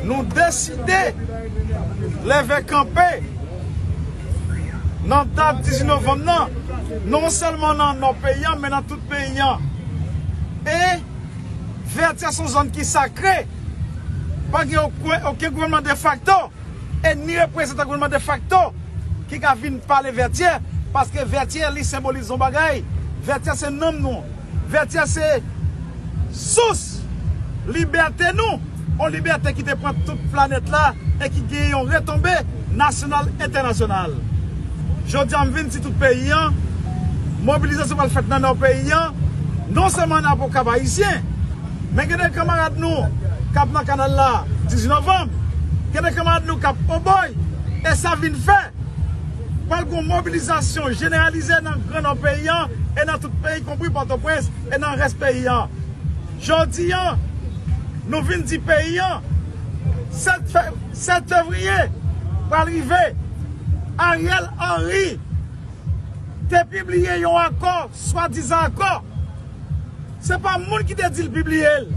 Nou deside leve kanpe nan dat 18 novanm nan, non sèlman nan nò peyi an men nan tout peyi an. E Vètyè se yon zòn ki sakre, pa gen oken gouvènman defakto. E ni reprezantan gouvènman defakto ki ka vin pale Vètyè, paske Vètyè li senbolize yon bagay, Vètyè se nanm nou, Vètyè se sous libète nou, yon libète ki te pran tout planèt la e ki gen yon retonbe nasyonal, entènasyonal. Jodi a m vin di tout peyi an, mobilizasyon pral fèt nan Nò peyi an, non sèlman nan apre Okap Ayisyen, Men gen de kanmarad nou k ap nan kanal la 18 novanm, gen de kanmarad nou k ap Obòy, e sa vin fè pral gen yon mobilizasyon jeneralize nan gran Nò peyi an e nan tout peyi, konpri Pòtoprens e nan rès peyi an. Jodi a, nou vin di peyi an 7 fevriye pral rive. Ariel Henry te pibliye yon akò, swadizan akò, Se pa moun ki te di l pibliye l.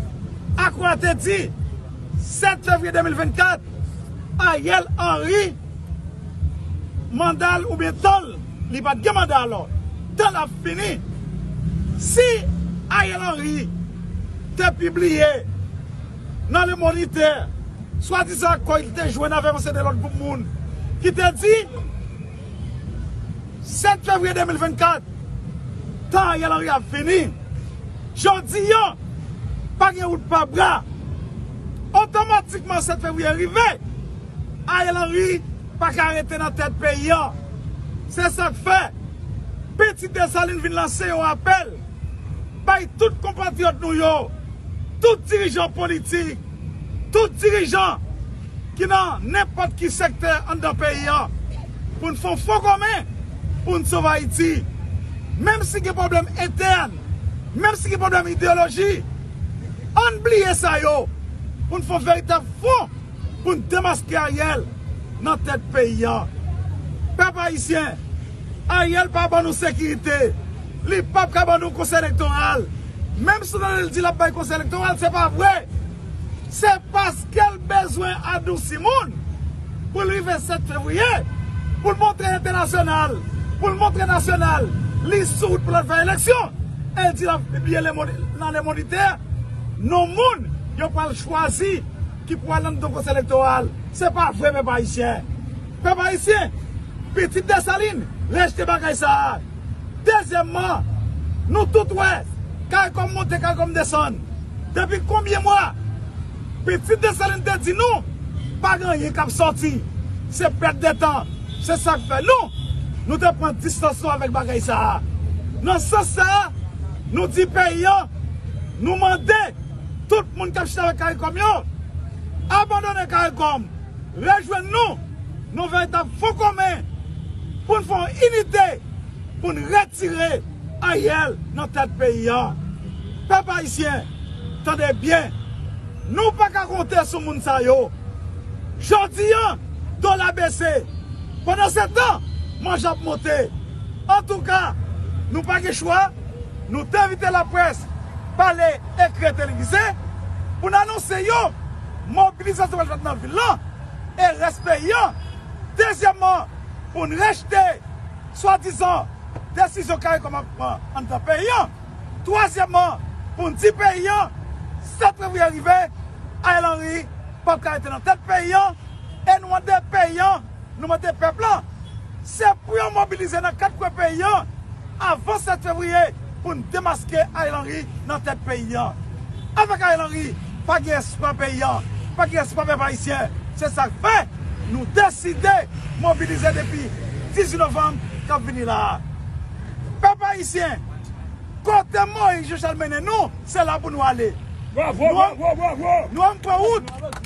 Akwa te di, 7 fevriye 2024, Ariel Henry manda l oubyen tan l, li pa t gen manda alò, tan l ap fini. Si Ariel Henry te pibliye nan Le Moniteur swadizan akò li te jwenn avèk yon seri de lòt gwoup moun ki te di, 7 fevriye 2024 tan Ariel Henry ap fini jodi an pa gen wout pa bra otomatikman 7 fevriye rive Ariel Henry pa ka rete nan tèt peyi an se sak fè pitit Dessalines vin lanse yon apèl bay tout konpatriyòt nou yo tout dirijan politik tout dirijan ki nan nenpòt ki sektè anndan peyi an pou n fè yon fon komen pou n sove Ayiti. Menm si gen pwoblèm entèn, menm si gen pwoblèm ideyoloji, an n bliye sa yo pou n fè yon veritab fon pou n demaske Ariel nan tèt peyi an. Pèp Ayisyen, Ariel pa ban nou sekirite, li pap ka ban nou konsèy elektoral, menm si w tande l di l ap bay konsèy elektoral, se pa vre! Se paske l bezwen adousi moun pou l rive 7 fevriye, pou l montre entènasyonal, pou l montre nasyonal li soud pou l al fè eleksyon e l di l ap pibliye nan lemond entè non moun yo pral chwazi ki pou al nan mitan konsèy elektoral. Se pa vre pèp ayisyen. Pèp ayisyen, pitit Desalin, rejte bagay sa a. Dezyèmman, nou tout wè caricom monte caricom desann depi konbyen mwa? Pitit Desalin te di nou pa gen anyen k ap sòti, se pèt de tan. Se sa k fè nou, nou te pran distans nou avèk bagay sa a. Nan sans sa a, nou di peyi an, nou mande tout moun k ap chita avèk caricom yo, abandonnen caricom. rejwenn nou nan veritab fon komen pou n fè yon inite pou n retire Ariel nan tèt peyi a. Pèp ayisyen, tande byen, nou pa ka konte sou moun sa yo. Jodi a, dola bese, pandansetan, manje ap monte. Antouka, nou pa gen chwa, nou te envite laprès pale ekri e televize pou n anonse yo. mobilizasyon pral fèt nan vil lan e rès peyi an. Dezyèmman, pou n rejte swadizan desizyon caricom ap pran anndan peyi an. Twazyèmman, pou n di peyi an 7 fevriye rive, Ariel Henry pap ka rete nan tèt peyi an e nou mande peyi an. Nou mande pèp la, se pou yo mobilize nan 4 kwen peyi an avan 7 fevriye pou n demaske Ariel Henry nan tèt peyi an. Avèk Ariel Henry, pa gen espwa peyi an, pa gen espwa pèp ayisyen. Se sa k fè nou deside mobilize depi 18 novanm k ap vini la a. Pèp ayisyen, kote Moyiz Jechal mennen nou, se la pou nou ale. Nou an pran wout.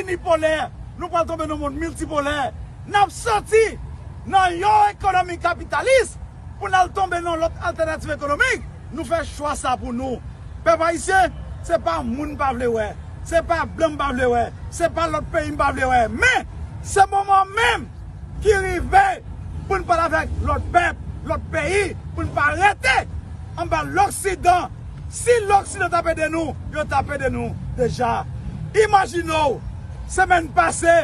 inipolè, nou pral tonbe nan yon mond miltipolè. N ap soti nan yon ekonomi kapitalis pou n al tonbe nan yon lòt altènativ ekonomik. Nou fè chwa sa pou nou. Pèp ayisyen, se pa moun m pa vle wè, se pa blan m pa vle wè, se pa lòt peyi m pa vle wè, men, se moman an menm ki rive pou n pale avèk lòt pèp, lòt peyi, pou n pa rete anba loksidan. Si loksidan tap ede nou yo tap ede nou deja imajine w semèn pase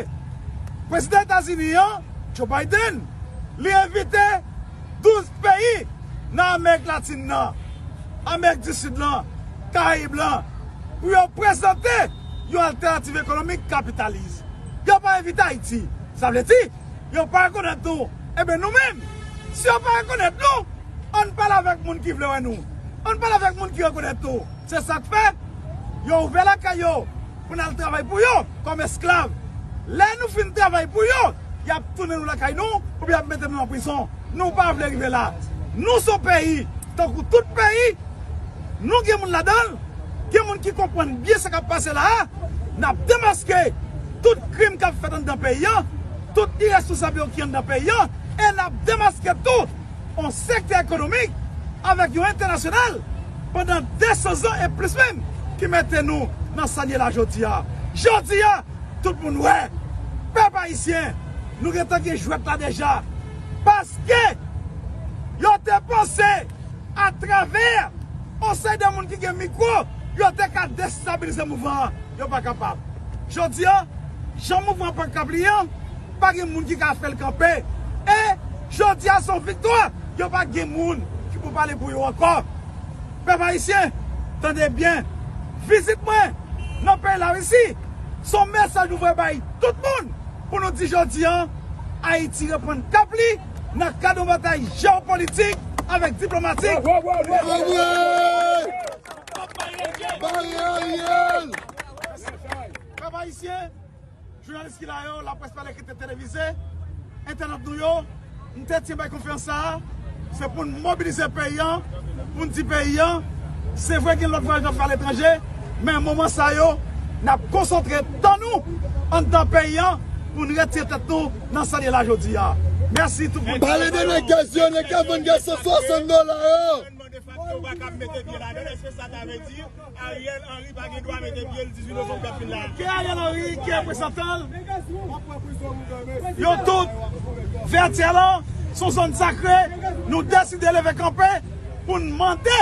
prezidan etazini an Joe Biden li envite 12 peyi nan amerik latin nan amerik di sid lan karayib lan pou yo prezante yon altènativ ekonomik kapitalis yo pa envite ayiti sa vle di. Yo pa rekonèt nou. Enben nou menm, si yo pa rekonèt nou, ann pale avèk moun ki vle wè nou. Ann pale avèk moun ki rekonèt nou. Se sa k fè, yo ouvè lakay yo pou n al travay pou yo kòm esklav. Lè nou fin travay pou yo, y ap tounen nou lakay nou oubyen y ap mete nou nan prizon. Nou pa vle rive la. Nou s on peyi tankou tout peyi. Non gen moun ladanl, gen moun ki konprann byen sa kap pase la a, nap demaske tout krim kap fèt anndan peyi an, tout irèsponsab yo ki anndan peyi an, e nap demaske tou on sektè ekonomik avèk yon entènasyonal pandan 200 zan e plis menm ki mete nou nan sa n ye la jodi a. Jodi a tout moun wè, pèp ayisyen nou gentan gen jwèt la deja paske yo te panse. Atravè on seri de moun ki gen mikwo, yo te ka destabilize mouvman an. Yo pa kapab. Jodi a, jan mouvman pank ap li an, pa gen moun ki ka fè l kanpe. E, jodi a se yon viktwa. Yo pa gen moun ki pou pale pou yo ankò. Pèp ayisyen, tande byen, vizit mwen nan peyi Larisi, se yon mesaj nou voye bay tout moun pou nou di jodi a, Ayiti reprann kap li. nan kad yon batay jeopolitik avèk diplomatik Pèp Ayisyen, jounalis ki la yo, laprès pale ki te televize, entènot nou yo, m te tyen bay konferans sa a, se pou n mobilize peyi an, pou n di peyi an, se vre gen lòt vwayaj n ap fè aletranje, men moman sa yo, n ap konsantre tan nou anndan peyi an pou n retire tèt nou. nan sa n ye la jodi a. Mèsi tout moun ki Pale de nègès yo, nèg kap vann gaz 160 dola yo. Ke Ariel Henry, ke represantanl, yo tout Vètyè lan son zòn sakre, nou deside leve kanpe pou n mande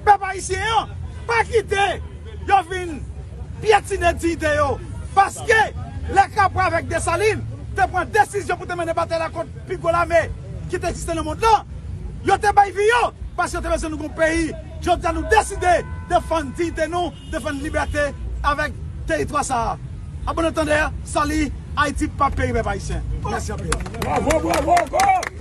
pèp ayisyen an pa kite. Yo vin pyetine diyite yo paske lè Capois avèk Dessalines te pran desizyon pou te mennen batay la kont pi gwo lame ki te egziste nan mond lan, yo te bay vi yo paske yo te bezwen nou gen yon peyi. Jodi a nou deside defann diyite nou, defann libète avèk teritwa sa a. A bon antandè, sali, Ayiti pap peri pèp ayisyen. Mèsi anpil.